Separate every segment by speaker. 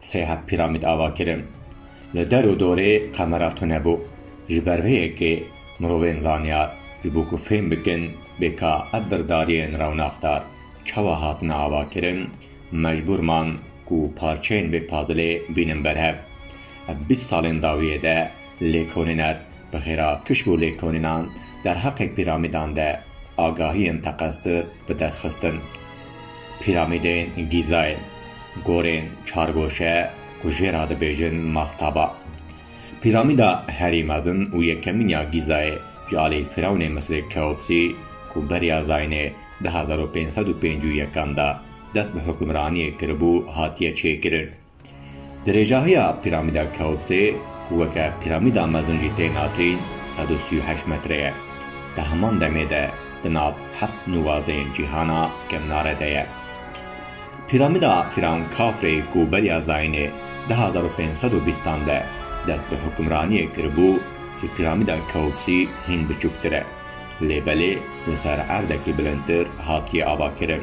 Speaker 1: Sêhat Pîramîd ava kirin. Li der û dorê qemera tune bû. Ji ber vê yekê mirovên zanyar ji bo ku fêm bikin bê ka ev birdariyên rewnaxdar çawa hatine ava kirin, mecbûr man ku parçeyên vê pazilê bînin berhev. Ev bîst salên dawiyê de lêkolîner bi xêra pişt û lêkolînan derheqê pîramîdan de agahiyên teqeztir, bi dest xistin. Pîramîdên Gîzayê, gorên çargoşe ku jê re dibêjin mastaba. Pîramîda herî mezin û yekemîn ya Gîzayê ji alî firewnê Misrê Keopsî ku beriya Zaynê di hezar û pênc sed û pêncî û yekan de dest bi hukimraniyê kiribû hatiye çêkirin. Dirêjahiya Pîramîda Keopsê ku weke Pîramîda Mezin jî tê nasîn sed û sî û heşt metre ye. Di heman demê de di nav heft nûvazên cîhana kevnare de ye. Pîramîda Pîran Kafrê ku beriya zayînê di hezar û pênc sed û bîst an de dest bi hukimraniyê kiribû, ji Pîramîda Keopsî hîn biçûktir e, lê belê li ser erdekî bilindtir hatiye avakirin.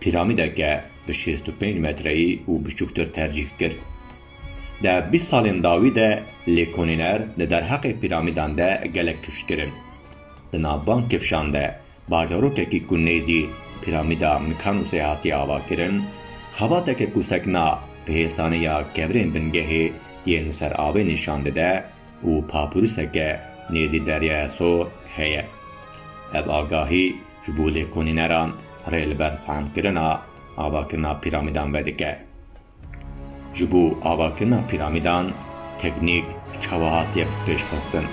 Speaker 1: Pîramîdeke bi şêst û pênc metreyî û biçûktir tercîh kir. Di bîst salên dawî de lêkonîner di derheqê pîramîdan de gelek kifş kirin. Di nav van kifşan de bajarokekî ku nêzî Pîramîda Mikanûsê hatiye avakirin, xebateke ku sekna bi hêsanê ya kevirên bingehê yên li ser avê nîşan dide û papûruseke nêzî deryaya sor heye. Ev agahî Ji bo lêkolîneran rê li ber fehmkirina avakirina pîramîdan vedike. Ji bo avakirina pîramîdan teknîk çawa hatiye pêşxistin?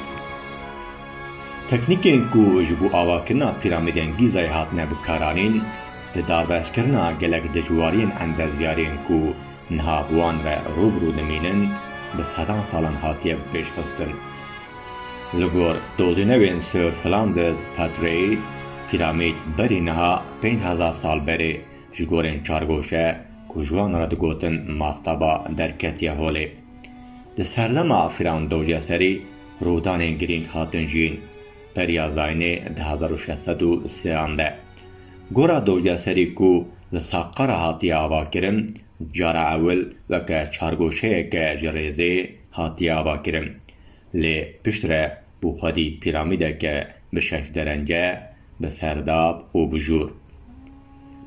Speaker 1: Teknîkên ku ji bo avakirina pîramîdên Gîzayê hatine bikaranîn, di darbezkirina gelek dijwariyên endezyariyên ku niha bi wan re rû bi rû dimînin, bi sedan salan hatiye pêşxistin. Li gor dozenewên Sir Flanders Patreyê, Piramîd berî niha pênc hezar sal berê ji gorên çargoşe ku ji wan re digotin mastaba derketiye holê. Di serdema Firandoje serî rûdanên girîng hatin jiyîn, Beriya Zaynê di hezar û şeş sed û sê an de. Gora Doje serî ku li Saqqara hatiye avakirin, cara ewil weke çargoşeyeke ji rêzê, hatiye avakirin. Lê piştre bû xwedî pîramîdeke bi şeş derence, bi serdab û bi jûr.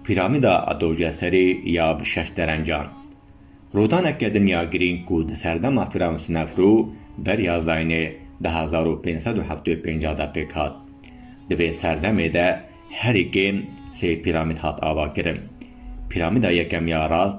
Speaker 1: Pîramîda Adoceserî ya bi şeş derencan. Rodaneke dinya girîng ku di serdema Firewn Sinefrû beriya Zaynê di hezar û pênc sed û heftê û pênc a de pêk hat. Di vê serdemê de herî kêm sê pîramîd hat avakirin. Pîramîda yekemiya rast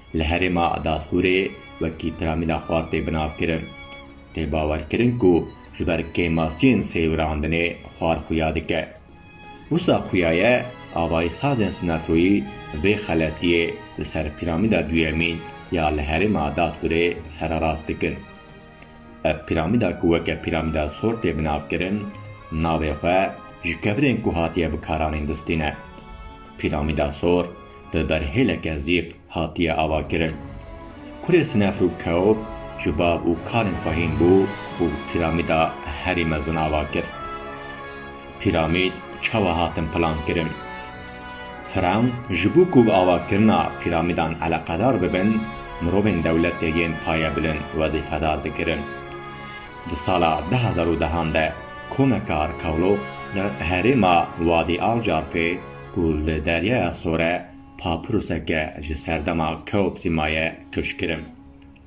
Speaker 1: Li herêma Darfûrê wekî Tramîla Xwar tê binavkirin. Tê bawerkirin ku ji ber kêmasiyên sêwirandinê xwar xuya dike. Wisa xuyaye avayîsazên sinerjoyî vê xeletiyê li ser Pîramîda Duyemîn ya li herêma Darfûrê sererast dikin. Ev piramîda ku weke Piramîda Thor tê bi nav kirin, navê xwe ji kevirên ku hatiye bikaranîn distîne. Piramîda Thor bi berhêleke zîq hatiye avakirin. Kurê Snefru Keop ji bav û kalên xwe hîn bû û piramîda herî mezin ava kir. Pîramîd çawa hatin plankirin? Firewn ji bo ku avakirina pîramîdan eleqedar bibin, mirovên dewletê yên payebilind wezîfedar dikirin. Di sala du hezar û dehan de komeka arkeolog li herêma Wadî Alcarfê ku li Deryaya Sor e, papirûseke ji serdema Keopsî maye kişkirin.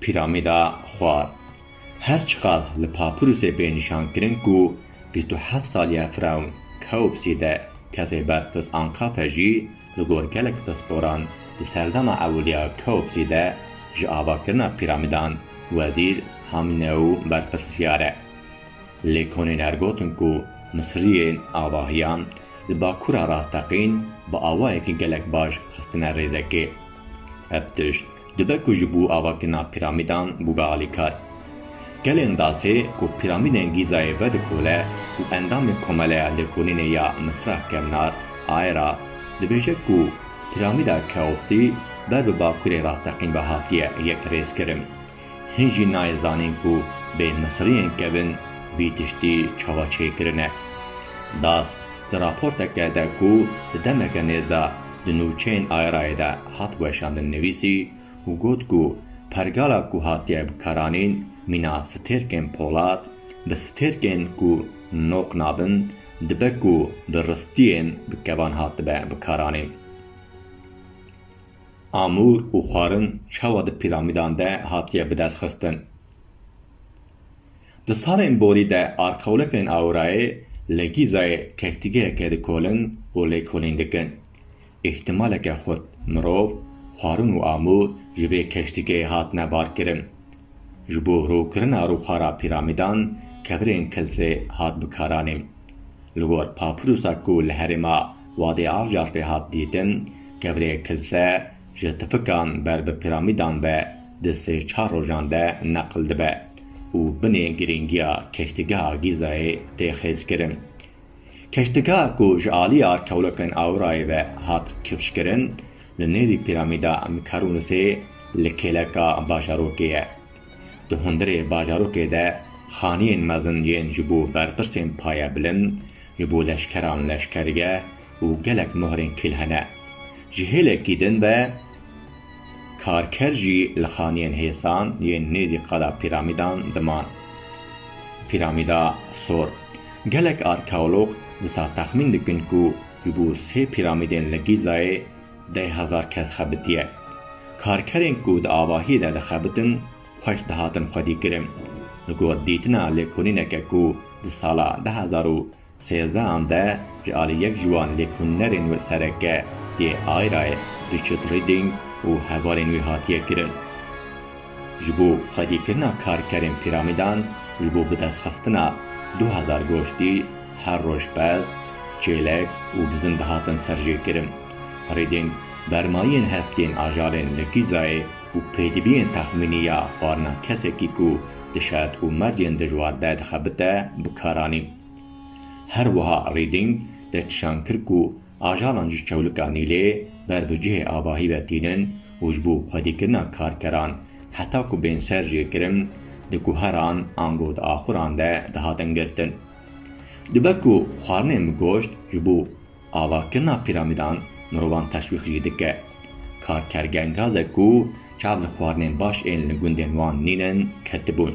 Speaker 1: Pîramîda Xwar, her çiqas li papirûsê bê nîşankirin ku bîst û heft saliya firewn Keopsî de kesê ber pirs Ankafe jî li gor gelek pisporan di serdana ewiliya Keopsî de ji avakirina pîramîdan Wezîr Hamîneu berpirsyar e. Lê konêner gotin ku Misiriyên avahiyan li Bakûra Rasteqîn bi awayekî gelek baş xistine rêzekê. Ev tişt Dibe ku ji bo avakirina piramîdan bûbe alîkar. Gelên Dasê ku piramîdên Gîzayê vedikole û endamê Komeleya Lêkolînê ya Misra Kevnar Aera dibêje ku piramîda Keopsî ber bi bakurê rasteqîn ve hatiye yekrêzkirin. Hin jî nayê zanîn ku bê Misriyên kevin vî tiştî çawa çêkirine. Das di raporteke de ku di demeke nêz de di nûçeyên Aerayê de hat weşandin nivîsî û got ku pergala ku hatiye bikaranîn mîna stêrkên polat bi stêrkên ku nok nabin dibe ku bi ristiyên bi kevan hatibe bikaranîn. Amûr û xwarin çawa di pîramîdan de hatiye bidestxistin? Di salên borî de arxewlekên Aurayê li Gîzayê kektigeheke dikolin û lêkolîn dikin. Îhtimaleke xurt mirov, xwarin û amûr ji vê keştigehê hatine barkirin. Ji bo rûkirina rûxara pîramîdan kevirên kilsê hat bikaranîn. Li gor papirûsa ku li herêma Wadê Avcarfê hat dîtin, kevirê kilse, ji tifikan ber bi piramîdan ve di sê-çar rojan de neqil dibe û binê girîngiya keştigeha Gîzayê tê xêzkirin. Keştigeha ku ji aliya kewlekên Aurayê ve hat kifşkirin, li nêvî piramîda Mikarunisê li kêleka bajarokê ye. Di hundirê bajarokê de xaniyên mezin yên ji bo berpirsên paye bilind, ji bo leşkeran leşkergeh, û gelek mohrên kil hene. Ji hêlekî din ve karker jî li xaniyên hêsan yên nêzî qada Pîramîdan diman. Pîramîda Sor. Gelek arkeolog wisa texmîn dikin ku ji bo sê pîramîdên li Gîzayê deh hezar kes xebitiye. Karkerên ku di avahiyê de dixebitin xweş dihatin xwedîkirin. Li gor dîtina lêkolîneke ku di sala deh hezar û Sêzdehan de ji alî yek ji wan lêkolînerên wê sereke yê Ayrayê Richard Reading û hevalên wî hatiye kirin. Ji bo xwedîkirina karkerên pîramîdan ji bo bidestxistina du hezar goştî her roj pez, çêlek û bizin dihatin serjêkirin. Reading bermayiyên heftiyên ajalên li Gîzayê û pêdiviyên texmînî ya xwarina kesekî ku di şert û mercên dijwar de dixebite bikaranîn. Her wiha Rîdîng derkişan kir ku ajalan ji çewlika Nîlê ber bi cihê avahî ve tînin û ji bo xwedîkirina karkeran heta ku bên ser jê kirin di guheran an got di axuran de dihatin girtin. Dibe ku xwarinên bi goşt ji bo avakirina pîramîdan mirovan teşwîq jî dike. Karker gengazek ku çav li xwarinên baş ên li gundên wan nînin ketibûn.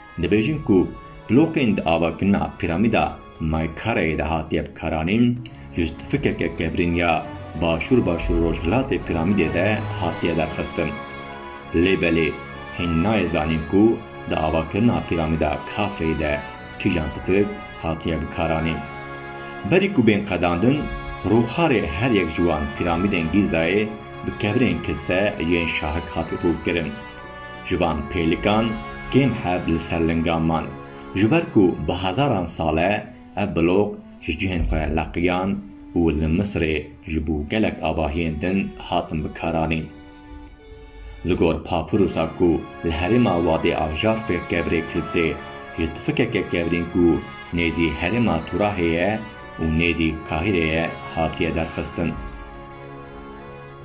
Speaker 1: Dibêjin ku blokên di avakirina Pîramîda Maykareyê de hatiye bikaranîn, ji stfikeke kevirîn ya Başûr-Başûr-Rojhilatê Pîramîdê de hatiye derxistin. Lê belê hîn nayê zanîn ku di avakirina Pîramîda Kafreyê de kîjan tifik hatiye bikaranîn. Berî ku bên qedandin, rûxarê her yek ji wan Pîramîdên Gîzayê bi kevirên kilse yên şahik hat rûkirin. Ji van pêlikan kêm heb li ser lingan man. Ji ber ku bi hezaran sal e ev blog ji cihên xwe leqiyan û li Misirê ji bo gelek avahiyên din hatin bikaranîn. Li gor Papyrusa ku li herêma Wadê Avjar fêr kevirê Kilsê ji tifikeke kevirîn ku nêzî herêma Turahê ye û nêzî Kahîrê ye hatiye derxistin.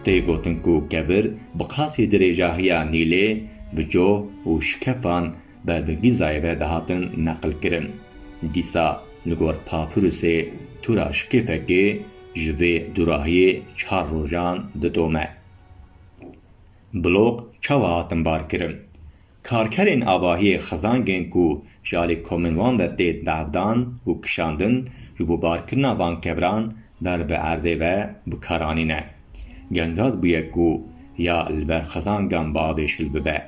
Speaker 1: Tê gotin ku kebir bi qasî dirêjahiya Nîlê bi coh û şikefan ber bi Gîzayê ve dihatin neqilkirin. Dîsa li gor Papirûsê tûra şikêfekê ji vê dûrahiyê çar rojan didome. Blok çawa hatin barkirin? Karkerên avahiyê xizan kirin ku ji alî komên wan ve tê bevdan û kişandin ji bo barkirina van keviran ber bi erdê ve bikar anîne. Gengaz bûye ku ya li ber xizangan bi avê şil bibe.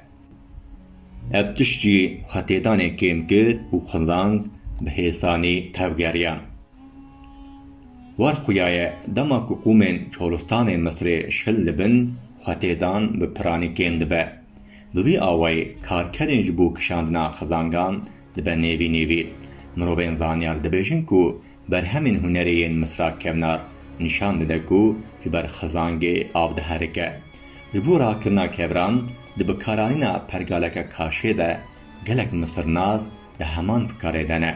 Speaker 1: Ev tişt jî xwetêdanê kêm kir û xizang bi hêsanî tevgeriyan. War xuya ye dema ku qûmên Çolistanê Misirê şil dibin, xwetêdan bi piranî kêm dibe. Bi vî awayî karkerên ji bo kişandina xizangan dibe nêvî nêvî. Mirovên zanyar dibêjin ku berhemên hunerê yên Misra Kevnar nîşan dide ku ji ber xizangê av diherike. Ji bo rakirina keviran di bikaranîna pergaleke kaşê de gelek misirnaz di heman fikarê de ne.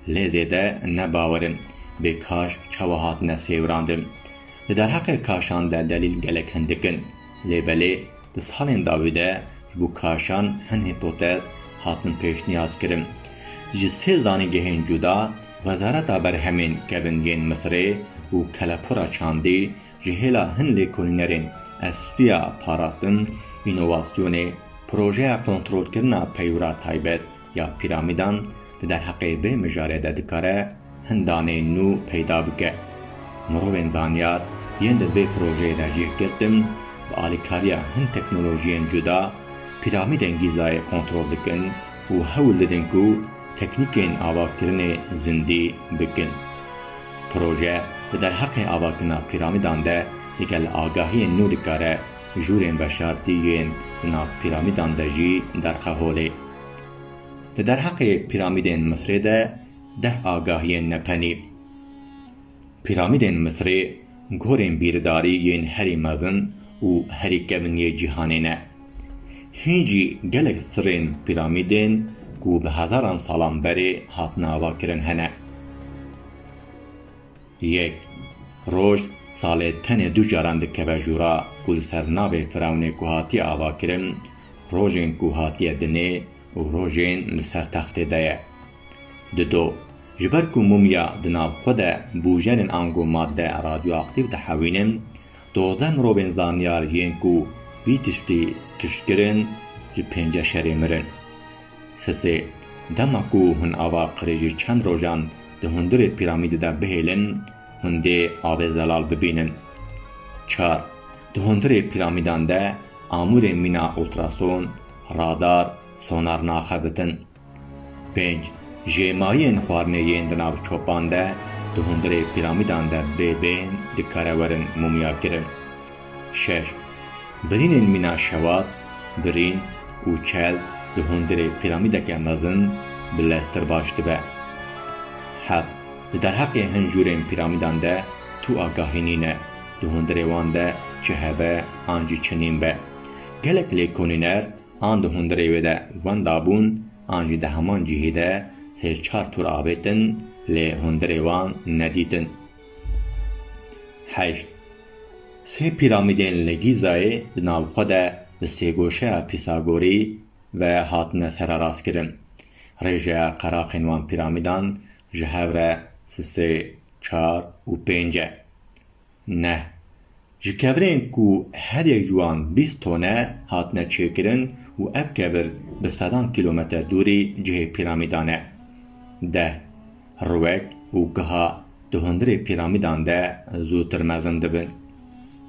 Speaker 1: Lê zêde ne bawer in bê kaş çawa hatine sêwirandin. Di derheqê kaşan de delîl gelek hindik in. Lê belê. Di salên dawî de ji bo kaşan hin hîpotez hatin pêşniyazkirin. Ji sê zanîngehên cuda, Wezareta Berhemên Kevingên Misirê û Kelepûra Çandî ji hêla hin lêkolînerên estûya parastin, înovasyonê, projeya kontrolkirina peywira taybet, ya pîramîdan di derheqê vê mijarê de dikare hin daneyên nû peyda bike. Mirovên zanyar yên di vê projeyê de cih girtin bi alîkariya hin teknolojiyên cuda pîramîdên Gîzayê kontrol dikin û hewl didin ku teknîkên avakirinê zindî bikin. Proje di derheqê avakirina pîramîdan de digel agahiyên nû dikare jûrên veşartî yên di nav pîramîdan de jî derxe holê. Di derheqê pîramîdên Misrê de deh agahiyên me penî. Pîramîdên Misrê gorên bîrdarî yên herî mezin û herî kevn yê cîhanê ne. Hîn jî gelek sirên pîramîdên ku bi hezaran salan berê hatin avakirin hene. Yek roj salê tenê du caran dikeve jûra ku li ser navê Firewnê ku hatiye avakirin, rojên ku hatiye dinê û rojên li ser textê de ye. Dido, ji ber ku mumya di nav xwe de bûjerên ango madde radyoaktîv dihewînin, dozdeh mirovên zanyar yên ku vî tiştî tişt kirin, ji pênce şerê mirin. Sisê, Dema ku hûn ava qirêjî çend rojan di hundirê pîramîdê de bihêlin, hûn dê avê zelal bibînin. Çar, Di hundirê pîramîdan de amûrê mîna ultrason, radar, sonar naxebitin. Pênc, Jê mayên xwarinê yên di nav çopan de di hundirê pîramîdan de bê bên dikare werin mûmyakirin. Şer, Birînên mîna şewat, birîn û çel di hundirê pîramîdeke mezin bi lez tir baş dibe. Heft, Di derheqê hin jûrên pîramîdan de tu agahî nîne, di hundirê wan de çi hebe an jî çi nîn be. Gelek lêkonîner an di hundirê wê de wenda bûn an jî di heman cihê de sê çar tur avêtin lê hundirê wan nedîtin. Heşt, Sê pîramîdên li Gîzayê di nav xwe de bi sêgoşeya Pîsagorî ve hatine sererastkirin. Rêjeya qeraqên wan pîramîdan ji hev re sisê çar û pênc e. Neh ji kevirên ku her yek ji wan bîst ton e hatine çêkirin û ev kevir bi sedan kîlometer dûrî cihê pîramîdan e. Deh. Rwek û giha di hundirê pîramîdan de zûtir mezin dibin.